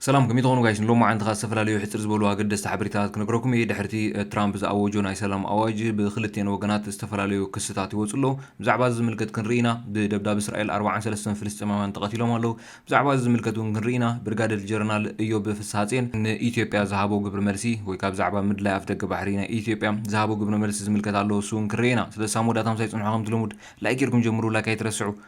ሰላም ከመይ ትኾኑ ጋይስ ንሎማዓንቲ ከኣ ዝተፈላለዩ ሕጽር ዝበሉ ኣገደስቲ ሓበሬታታት ክነግረኩም እየ ድሕርቲ ትራምፕ ዝኣወጆ ናይ ሰላም ኣዋጅ ብኽልቴን ወገናት ዝተፈላለዩ ክስታት ይወጹ ኣሎ ብዛዕባ እዚ ዝምልከት ክንርኢ ኢና ብደብዳብ እስራኤል ኣርብዓን ሰለስተን ፍልስጤማውያን ተቐቲሎም ኣለው ብዛዕባ እዚ ዝምልከት እውን ክንርኢ ኢና ብርጋደል ጀረናል እዮብ ፍስሃጼን ንኢትዮጵያ ዝሃቦ ግብሪ መልሲ ወይ ከኣ ብዛዕባ ምድላይ ኣፍደገ ባሕሪ ናይ ኢትዮጵያ ዝሃቦ ግብሪ መልሲ ዝምልከት ኣሎ እሱ እውን ክንርኢ ኢና ስለዚ ሳብ መወዳእታ ምሳይ ጽንሑ ከምቲ ልሙድ ላይክ ጌርኩም ጀምሩ ላይክ ኣይትረስዑ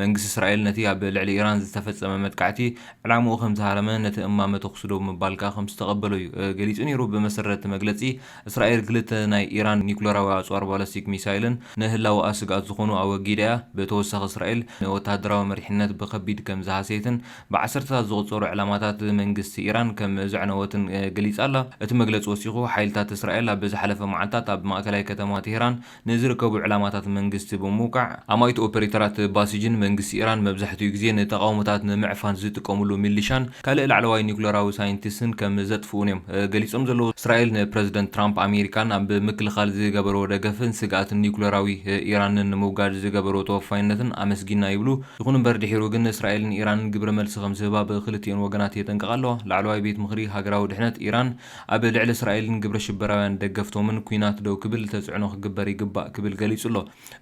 መንግስቲ እስራኤል ነቲ ኣብ ልዕሊ ኢራን ዝተፈጸመ መጥቃዕቲ ዕላምኡ ከም ዝሃረመ ነቲ እማመ ተኹሲ ዶብ ምባል ከኣ ከም ዝተቐበሎ እዩ ገሊጹ ነይሩ። ብመሰረት እቲ መግለጺ እስራኤል ክልተ ናይ ኢራን ኒኩለራዊ ኣጽዋር ባለስቲክ ሚሳይልን ንህላወኣ ስግኣት ዝኾኑ ኣወጊዳ እያ። ብተወሳኺ እስራኤል ንወተሃደራዊ መሪሕነት ብከቢድ ከም ዝሃሰየትን ብዓሰርተታት ዝቑጸሩ ዕላማታት መንግስቲ ኢራን ከም ዘዕነወትን ገሊጻ ኣላ። እቲ መግለጺ ወሲኹ ሓይልታት እስራኤል ኣብ ዝሓለፈ መዓልታት ኣብ ማእከላይ ከተማ ቴህራን ንዝርከቡ ዕላማታት መንግስቲ ብምውቃዕ፣ ኣማኢት ኦፐሬተራት ባሲጅን መንግስቲ ኢራን መብዛሕትኡ ግዜ ንተቓውሞታት ንምዕፋን ዝጥቀምሉ ሚሊሻን ካልእ ላዕለዋይ ኒዩክለራዊ ሳይንቲስትን ከም ዘጥፍኡን እዮም ገሊጾም ዘለዉ። እስራኤል ንፕረዚደንት ትራምፕ ኣሜሪካን ኣብ ምክልኻል ዝገበርዎ ደገፍን ስግኣት ኒዩክለራዊ ኢራንን ንምውጋድ ዝገበርዎ ተወፋይነትን ኣመስጊና ይብሉ። ይኹን እምበር ድሒሩ ግን እስራኤል ንኢራን ግብረ መልሲ ከም ዝህባ ብክልቲኤን ወገናት የጠንቅቓ ኣለዋ። ላዕለዋይ ቤት ምኽሪ ሃገራዊ ድሕነት ኢራን፣ ኣብ ልዕሊ እስራኤልን ግብረ ሽበራውያን ደገፍቶምን ኲናት ደው ክብል ተጽዕኖ ክግበር ይግባእ ክብል ገሊጹ ኣሎ።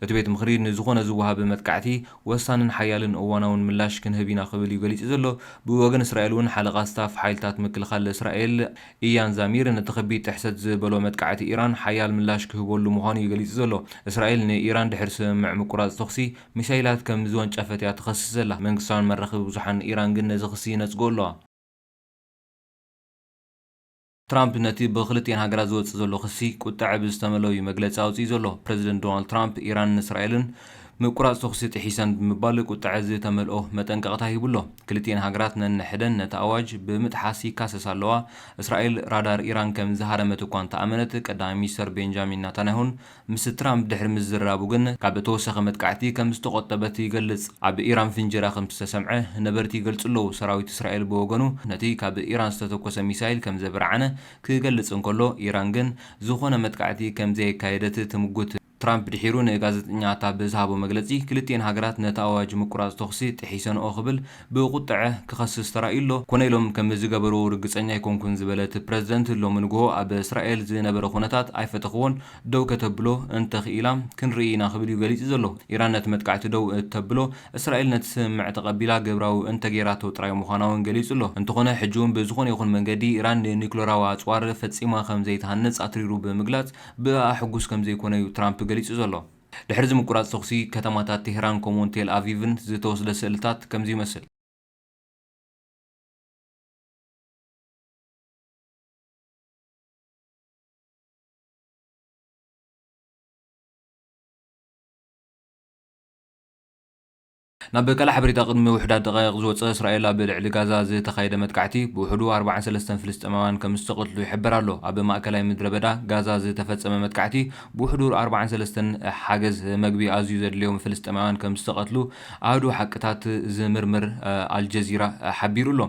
እቲ ቤት ምኽሪ ንዝኾነ ዝወሃብ መጥቃዕቲ ወሳንን ሓያልን እዋናውን ምላሽ ክንህብ ኢና ክብል እዩ ገሊጹ ዘሎ። ብወገን እስራኤል እውን ሓለቓ ስታፍ ሓይልታት ምክልኻል እስራኤል ኢያን ዛሚር ነቲ ከቢድ ጥሕሰት ዝበሎ መጥቃዕቲ ኢራን ሓያል ምላሽ ክህበሉ ምዃኑ እዩ ገሊጹ ዘሎ። እስራኤል ንኢራን ድሕሪ ስምምዕ ምቁራጽ ተኹሲ ሚሳይላት ከም ዝወንጨፈት እያ ትኸስስ ዘላ። መንግስታውያን መራኽቢ ብዙሓን ኢራን ግን ነዚ ክሲ ይነጽግኦ ኣለዋ። ትራምፕ ነቲ ብኽልቲኤን ሃገራት ዝወጽእ ዘሎ ክሲ ቁጠዐ ብዝተመልኦ'ዩ መግለጺ ኣውጺኡ ዘሎ። ፕረዚደንት ዶናልድ ትራምፕ ኢራንን እስራኤልን ምቁራጽ ተኹሲ ጥሒሰን ብምባል ቁጠዐ ዝተመልኦ መጠንቀቕታ ሂቡ ኣሎ። ክልቲኤን ሃገራት ነንሕደን ነቲ ኣዋጅ ብምጥሓስ ይካሰሳ ኣለዋ። እስራኤል ራዳር ኢራን ከም ዝሃረመት እኳ እንተኣመነት፣ ቀዳማይ ሚኒስተር ቤንጃሚን ናታንያሁን ምስ ትራምፕ ድሕሪ ምዝርራቡ ግን ካብ ተወሳኺ መጥቃዕቲ ከም ዝተቖጠበት ይገልጽ። ኣብ ኢራን ፍንጀራ ከም ዝተሰምዐ ነበርቲ ይገልጹ ኣለዉ። ሰራዊት እስራኤል ብወገኑ ነቲ ካብ ኢራን ዝተተኮሰ ሚሳይል ከም ዘበርዓነ ክገልጽ እንከሎ ኢራን ግን ዝኾነ መጥቃዕቲ ከም ዘየካየደት ትምጉት። ትራምፕ ድሒሩ ንጋዘጠኛታ ብዝሃቦ መግለጺ ክልቲኤን ሃገራት ነቲ ኣዋጅ ምቁራጽ ተኹሲ ጥሒሰንኦ ክብል ብቁጠዐ ክኸስስ ተራእዩ'ሎ፣ ኮነ ኢሎም ከም ዝገበሩ ርግጸኛ ኣይኮንኩን ዝበለት ፕረዚደንት፣ ሎሚ ንግሆ ኣብ እስራኤል ዝነበረ ኩነታት ኣይፈተኹዎን፣ ደው ከተብሎ እንተኽኢላ ክንርኢ ኢና ክብል'ዩ ገሊጹ ዘሎ። ኢራን ነቲ መጥቃዕቲ ደው እተብሎ፣ እስራኤል ነቲ ስምምዕ ተቐቢላ ግብራዊ እንተገይራቶ ጥራይ ምዃና'ውን ገሊጹ'ሎ። እንተኾነ ሕጂ'ውን ብዝኾነ ይኹን መንገዲ ኢራን ንኒዩክለራዊ ኣጽዋር ፈጺማ ከም ዘይትሃንጽ ኣትሪሩ ብምግላጽ ብእኣ ሕጉስ ከም ዘይኮነ'ዩ ትራምፕ ገሊጹ ዘሎ። ድሕሪ'ዚ ምቁራጽ ተኹሲ፣ ከተማታት ቴህራን ከምኡ'ውን ቴል ኣቪቭን ዝተወስደ ስእልታት ከምዚ ይመስል። ናብ ቀለዕ ሓበሬታ ቅድሚ ውሑዳት ደቓይቕ ዝወጸ እስራኤል ኣብ ልዕሊ ጋዛ ዝተኻየደ መጥቃዕቲ ብውሕዱ ኣርብዓን ሰለስተን ፍልስጤማውያን ከምዝተቐትሉ ይሕበር ኣሎ። ኣብ ማእከላይ ምድረበዳ ጋዛ ዝተፈጸመ መጥቃዕቲ ብውሕዱ ኣርብዓን ሰለስተን ሓገዝ መግቢ ኣዝዩ ዘድልዮም ፍልስጤማውያን ከምዝተቐትሉ ኣሃዱ ሓቅታት ዝምርምር ኣልጀዚራ ሓቢሩ ኣሎ።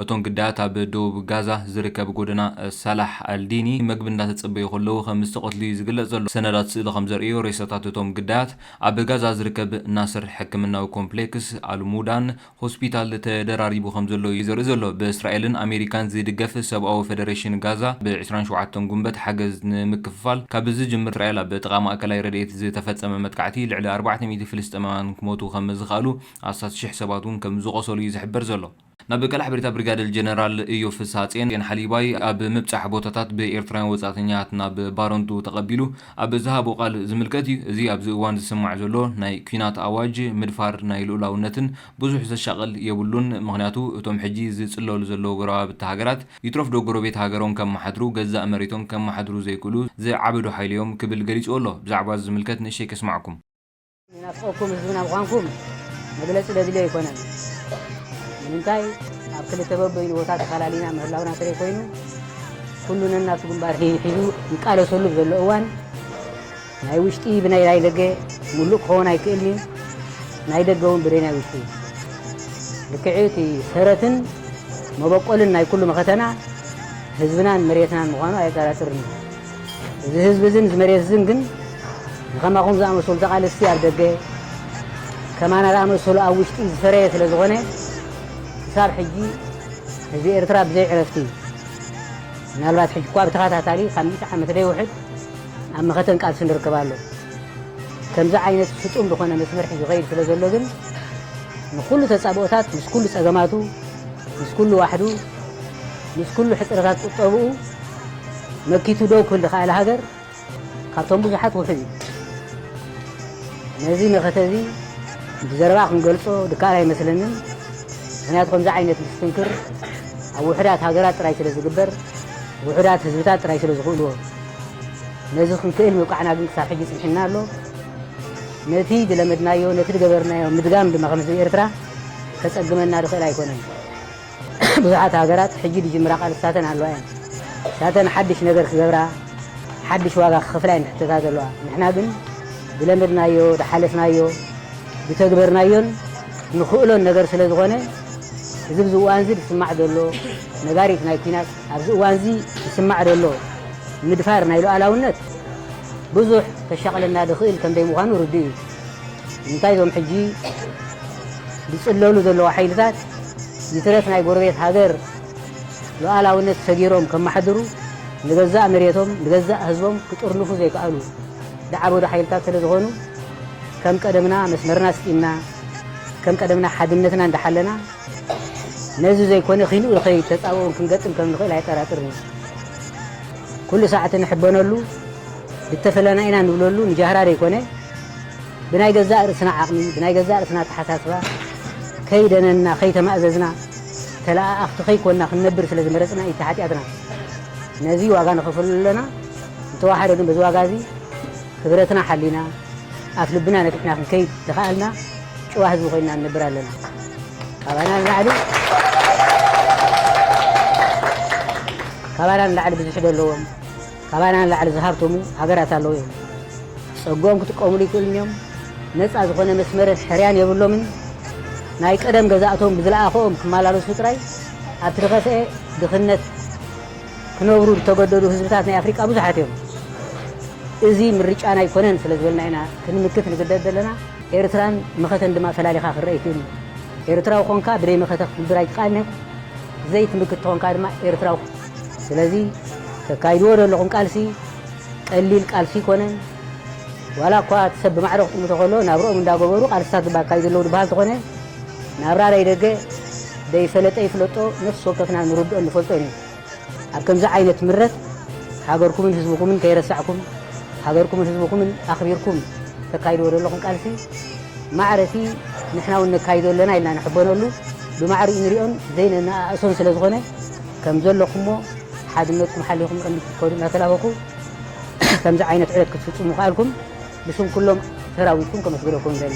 እቶም ግዳያት ኣብ ደቡብ ጋዛ ዝርከብ ጎደና ሳላሕ ኣልዲኒ መግቢ እንዳተጸበዩ ከለዉ ከምዝተቐትሉ'ዩ ዝግለጽ ዘሎ። ሰነዳት ስእሊ ከምዘርእዮ ሬሳታት እቶም ግዳያት ኣብ ጋዛ ዝርከብ ናስር ሕክምናዊ ኮምፕሌክስ፣ ኣልሙዳን ሆስፒታል ተደራሪቡ ከምዘሎ እዩ ዘርኢ ዘሎ። ብእስራኤልን ኣሜሪካን ዝድገፍ ሰብኣዊ ፈደረሽን ጋዛ፣ ብ ዕስራን ሸውዓተን ጉንበት ሓገዝ ንምክፍፋል ካብ ዝጅምር፣ እስራኤል ኣብ ጥቓ ማእከላይ ረድኤት ዝተፈጸመ መጥቃዕቲ ልዕሊ ኣርባዕተ ሚእቲ ፍልስጤማውያን ክሞቱ ከምዝኸኣሉ ኣስታት ሽሕ ሰባት'ውን ከምዝቖሰሉ እዩ ዝሕበር ዘሎ። ናብ ቀላሕ ብሪታ ብሪጋደል ጀነራል እዮብ ፍስሃጼን ን ሓሊባይ ኣብ ምብጻሕ ቦታታት ብኤርትራውያን ወጻእተኛታት ናብ ባረንቱ ተቐቢሉ ኣብ ዝሃቦ ቃል ዝምልከት እዩ። እዚ ኣብዚ እዋን ዝስማዕ ዘሎ ናይ ኲናት ኣዋጅ ምድፋር ናይ ልኡላውነትን ብዙሕ ዘሻቕል የብሉን ምኽንያቱ እቶም ሕጂ ዝጽለሉ ዘለዉ ጎረባብቲ ሃገራት ይትረፍዶ ጎረቤት ሃገሮም ከመሓድሩ ገዛእ መሬቶም ከመሓድሩ ዘይክእሉ ዝዓበዱ ሓይሊ'ዮም ክብል ገሊጽዎ ኣሎ። ብዛዕባዚ ዝምልከት ንእሽተይ ከስማዕኩም። ንናፍቆኩም ህዝብና ምዃንኩም መግለጺ ዘድልዮ ኣይኮነን። ንምንታይ ኣብ ክልተ በበይኑ ቦታ ተፈላሊና ምህላውና እንተዘይ ኮይኑ ኩሉ ነናቱ ግንባር ሒዙ ይቃለሰሉ ዘሎ እዋን ናይ ውሽጢ ብናይ ናይ ደገ ሙሉእ ክኸውን ኣይክእልን እዩ። ናይ ደገ እውን ብደይ ናይ ውሽጢ ልክዕ እቲ ሰረትን መበቆልን ናይ ኩሉ መኸተና ህዝብናን መሬትናን ምዃኑ ኣየጠራጥርን እዩ። እዚ ህዝቢ እዝን እዚ መሬት እዝን ግን ንከማኹም ዝኣመሰሉ ተቓለስቲ ኣብ ደገ ከማና ዝኣመሰሉ ኣብ ውሽጢ ዝፈረየ ስለ ዝኾነ ክሳብ ሕጂ ህዝቢ ኤርትራ ብዘይ ዕረፍቲ ምናልባት ሕጂ እኳ ብተኸታታሊ ካብ ሚእቲ ዓመት ደይውሕድ ኣብ መኸተን ቃልሲ ንርከብ ኣሎ ከምዚ ዓይነት ስጡም ዝኾነ መስመር ሒዙ ይኸይድ ስለ ዘሎ ግን ንኩሉ ተጻብኦታት ምስ ኩሉ ጸገማቱ ምስ ኩሉ ዋሕዱ ምስ ኩሉ ሕጽረታት ቁጠብኡ መኪቱ ደው ክብል ዝኸኣለ ሃገር ካብቶም ብዙሓት ውሑድ እዩ። ነዚ መኸተ እዚ ብዘረባ ክንገልጾ ድካኣል ኣይመስለንን፣ ምኽንያቱ ከምዚ ዓይነት ምስትንክር ኣብ ውሑዳት ሃገራት ጥራይ ስለ ዝግበር ውሑዳት ህዝብታት ጥራይ ስለ ዝኽእልዎ። ነዚ ክንክእል ምብቃዕና ግን ክሳብ ሕጂ ጽኒሑና ኣሎ። ነቲ ዝለመድናዮ ነቲ ዝገበርናዮ ምድጋም ድማ ከም ህዝቢ ኤርትራ ከጸግመና ዝኽእል ኣይኮነን። ብዙሓት ሃገራት ሕጂ ዝጅምራ ቃልስታተን ኣለዋ እየን። ንሳተን ሓድሽ ነገር ክገብራ፣ ሓድሽ ዋጋ ክኸፍላ እየን ዝሕተታ ዘለዋ። ንሕና ግን ዝለመድናዮ፣ ዝሓለፍናዮ፣ ዝተግበርናዮን ንኽእሎን ነገር ስለ ዝኾነ እዚ ኣብዚ እዋንዚ ዝስማዕ ዘሎ ነጋሪት ናይ ኩናት፣ ኣብዚ እዋንዚ ዝስማዕ ዘሎ ምድፋር ናይ ሉኣላውነት ብዙሕ ከሻቕለና ዝኽእል ከምዘይምዃኑ ርዱእ እዩ። ንምንታይ እዞም ሕጂ ዝጽለሉ ዘለዉ ሓይልታት ይትረፍ ናይ ጎረቤት ሃገር ሉኣላዊነት ሰጊሮም ከማሓድሩ ንገዛእ መሬቶም ንገዛእ ህዝቦም ክጥርንፉ ዘይክኣሉ ዝዓበዱ ሓይልታት ስለ ዝኾኑ ከም ቀደምና መስመርና ኣስጢምና ከም ቀደምና ሓድነትና እንዳሓለና ነዚ ዘይኮነ ኪንኡ ንኸይድ ተጻብኦን ክንገጥም ከም ንኽእል ኣየጠራጥርን እዩ። ኩሉ ሳዕቲ ንሕበነሉ ዝተፈለና ኢና ንብለሉ ንጃህራ ዘይኮነ ብናይ ገዛእ ርእስና ዓቕሚ፣ ብናይ ገዛእ ርእስና ኣተሓሳስባ ከይደነንና፣ ከይተማእዘዝና፣ ተለኣኣኽቲ ከይኮንና ክንነብር ስለ ዝመረጽና እዩ እቲ ሓጢኣትና። ነዚ ዋጋ ንኸፍለሉ ኣለና። እንተወሓደ ግን በዚ ዋጋ እዚ ክብረትና ሓሊና፣ ኣፍ ልብና ነፊሕና ክንከይድ ተኸኣልና ጭዋ ህዝቢ ኮይንና ንነብር ኣለና። ካባና ንላዕሊ ካባና ንላዕሊ ብዙሕ ዶ ኣለዎም? ካባና ንላዕሊ ዝሃብተሙ ሃገራት ኣለዉ እዮም። ጸግኦም ክጥቀሙሉ ይክእሉን እዮም። ነጻ ዝኾነ መስመርን ሕርያን የብሎምን። ናይ ቀደም ገዛእቶም ብዝለኣኸኦም ክመላለሱ ጥራይ ኣብቲ ዝኸፍኤ ድኽነት ክነብሩ ዝተገደዱ ህዝብታት ናይ ኣፍሪቃ ብዙሓት እዮም። እዚ ምርጫና ኣይኮነን ስለ ዝበልና ኢና ክንምክት ንግደድ ዘለና። ኤርትራን መኸተን ድማ ፈላሊኻ ክረኣ ኣይክእልን እዩ። ኤርትራዊ ኾንካ ብደይ መኸተ ክትንብር ኣይትክኣልን እያ። ዘይትምክት ተኾንካ ድማ ኤርትራዊ ስለዚ ተካይድዎ ዘለኹም ቃልሲ ቀሊል ቃልሲ ኣይኮነን። ዋላ እኳ እቲ ሰብ ብማዕረ ክጥምቶ ከሎ ናብርኦም እንዳገበሩ ቃልስታት ድማ ኣካይዱ ኣለዉ ዝበሃል ተኾነ ናብራ ናይ ደገ ደይፈለጠ ይፍለጦ ነፍሲ ወከፍና ንርድኦን ንፈልጦን እዩ። ኣብ ከምዚ ዓይነት ምረት ሃገርኩምን ህዝብኹምን ከይረሳዕኩም ሃገርኩምን ህዝብኹምን ኣኽቢርኩም ተካይድዎ ዘለኹም ቃልሲ ማዕረ እቲ ንሕና እውን ነካይዶ ኣለና ኢልና ንሕበነሉ ብማዕሪኡ ንሪኦን ዘይነነኣእሶን ስለዝኾነ ከም ዘለኹምዎ ሓድነትኩም ሓሊኹም ቅድሚት ክትከዱ እናተላበኹ ከምዚ ዓይነት ዕዮት ክትፍፅሙ ምኽኣልኩም ብስም ኩሎም ሰራዊትኩም ከመስግነኩም እደሊ።